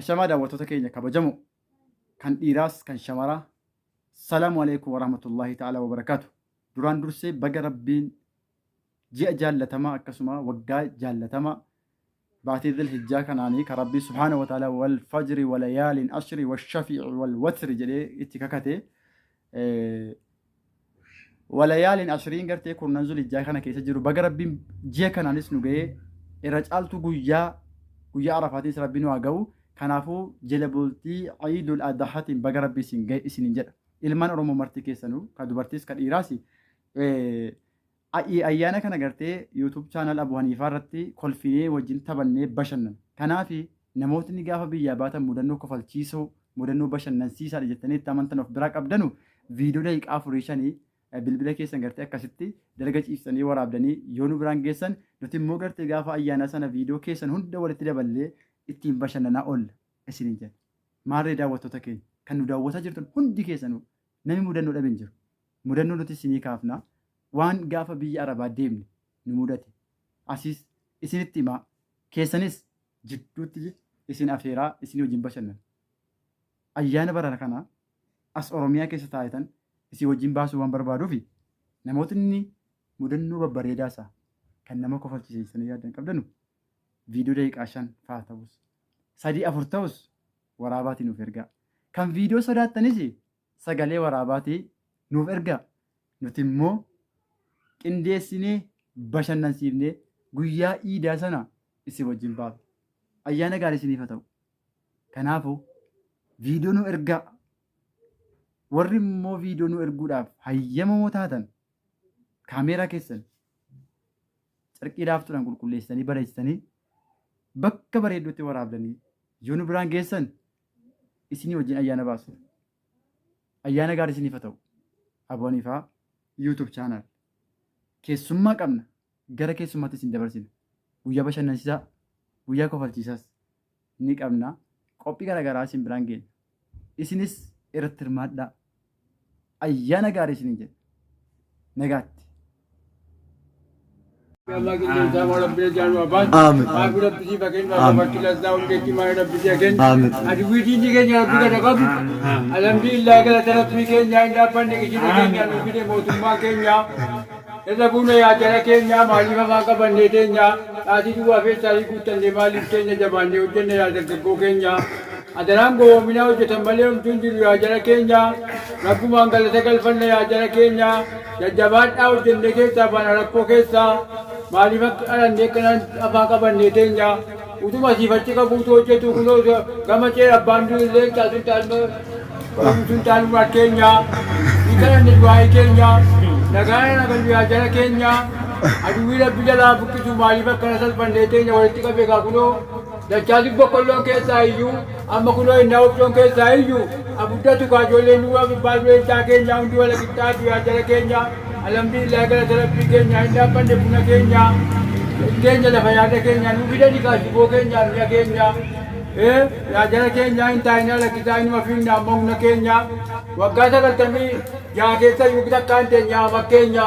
Ashamaa daawwattoota keenya kabajamoo kan dhiiraas kan shamaraa salaamu alaikum warahmatullahi ta'ala wabarakaatu duraan dursee baga rabbiin ji'a jaallatamaa akkasuma waggaa jaallatamaa baatii dhil hijjaa kanaanii kan rabbii subhaana wa ta'ala wal fajri wal yaaliin ashri wal shafiici wal watri jedhee itti kakate Walayaaliin ashiriin gartee kurnan zulijjaa kana keessa jiru baga rabbiin ji'a kanaanis nu ga'ee irra caaltuu guyyaa guyyaa arafaatiinis rabbiin waa ga'u kanaafuu jala bultii ciidul adahaatiin baga rabbii isin ga'e isinin jedha ilmaan oromoo marti keessanuu ka dubartiis ka dhiiraas Ayii ayyaana kana gartee YouTube channel Abu Haniifaa irratti kolfinee wajjin taphannee bashannana. Kanaafi namootni gaafa biyyaa baatan mudannoo kofalchiisoo, mudannoo bashannansiisaadha jettanii itti amantan of biraa qabdanu video daqiiqaa afurii shanii bilbila keessan gartee akkasitti dalga ciiftanii waraabdanii yoo nu biraan geessan nuti immoo gartee gaafa ayyaanaa sana video keessan hunda walitti daballee ittiin bashannanaa oolla isiniin jenna. Maarree daawwattoota keenya kan nu daawwataa jirtan hundi keessanuu Nami mudannoo dhabe hin jiru. Mudannoo nutis isinii kaafna. Waan gaafa biyya Arabaa deemne nu mudate asiis isinitti himaa, keessanis jidduutti isin afeeraa isinii wajjin bashannana. Ayyaana bara kanaa as Oromiyaa keessa taa'etan isin wajjin baasuu waan barbaaduufi namootni mudannoo babbareedaa isaa kan nama kofalchiise jettanii yaaddan qabdanu viidiyoo daqiiqaa shan faa ta'us sadii afur ta'us waraabaatii nuuf ergaa. Kan viidiyoo sodaattanis sagalee waraabaatii nuuf ergaa. Nuti immoo qindeessinee bashannansiifnee guyyaa iidaa sana isin wajjin baafna. Ayyaana gaarii isiniif haa ta'u. Kanaafuu viidiyoo nu ergaa. Warri immoo viidiyoo nu erguudhaaf hayyamamoo taatan kaameeraa keessan carqii laaftuudhaan qulqulleessitanii bareechitanii bakka bareedduutti waraabdanii yoo nu biraan geessan isinii wajjin ayyaana baasudha. Ayyaana gaarii isiniif haa ta'u. Abboon Ifaa YouTube channel keessummaa qabna gara keessummaatti isin dabarsina. Guyyaa bashannansiisaa, guyyaa kofalchiisaas ni qabna. Qophii garaagaraa isin biraan geenya. Isinis irratti hirmaadhaa. Ayyaana gaarii isiniin jedha. Nagaatti. Irra buuna yaa jara keenya maaliif afaan qabannee teenya dhaatii duwwaa feessaarii guuttannee maaliif teenya jabaannee hojjenne yaa dargaggoo keenya. Adaraan gowoominaa hojjetan malee homtuu hin jiru yaa jara keenya rabbumaan galata galfanna yaa jara keenya jajjabaadhaa hojjennee keessaa baana rakkoo keessaa maaliif akka dhalannee kanan afaan qabannee teenya utuma siif achi kakuutu hojjetu kunoo gama ceera abbaan du'u illee hin taatu hin taatu uumtu hin taatu maal keenya hin kadhanne du'aa'ii keenya nagaana nagallu yaa jara keenya aduwwii rabbi jalaa buqqisu maaliif akkana salphannee teenya walitti qabee kaa kunoo Dachaasi boqqolloon keessaa iyyuu amma kunoo innaa wofcoon keessaa iyyuu abuddatu kaa ijoolleen duwwaa gubbaa du'een caa keenyaa hundi wala qixxaatu yaa jala keenya alhamdulillah galata rabbii keenya hin dhaabbanne buna keenya keenya lafa yaada keenya nuu fidani kaa shiboo keenya mi'a keenya ee yaa jala keenya hin taa'inaa lakkisaa inuma fiigna amma humna keenya waggaa sagaltamii jaa keessa iyyuu takkaan teenyaa makkeenya.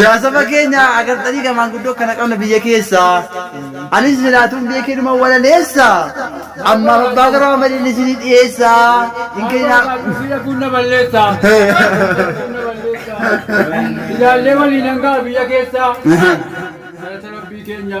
Yaa saba keenya agartanii ka maanguddoo akkana qabna biyya keessa. Anis jiraatuun biyya kee dhuma walaleessa. Ammaaf abbaa garoo amaliin isinii dhiyeessa. Hin kennaa. Biyya kun na balleessa. Kun na balleessa. Ilaallee waliin hangaa biyya keessa. Galata rabbii keenya.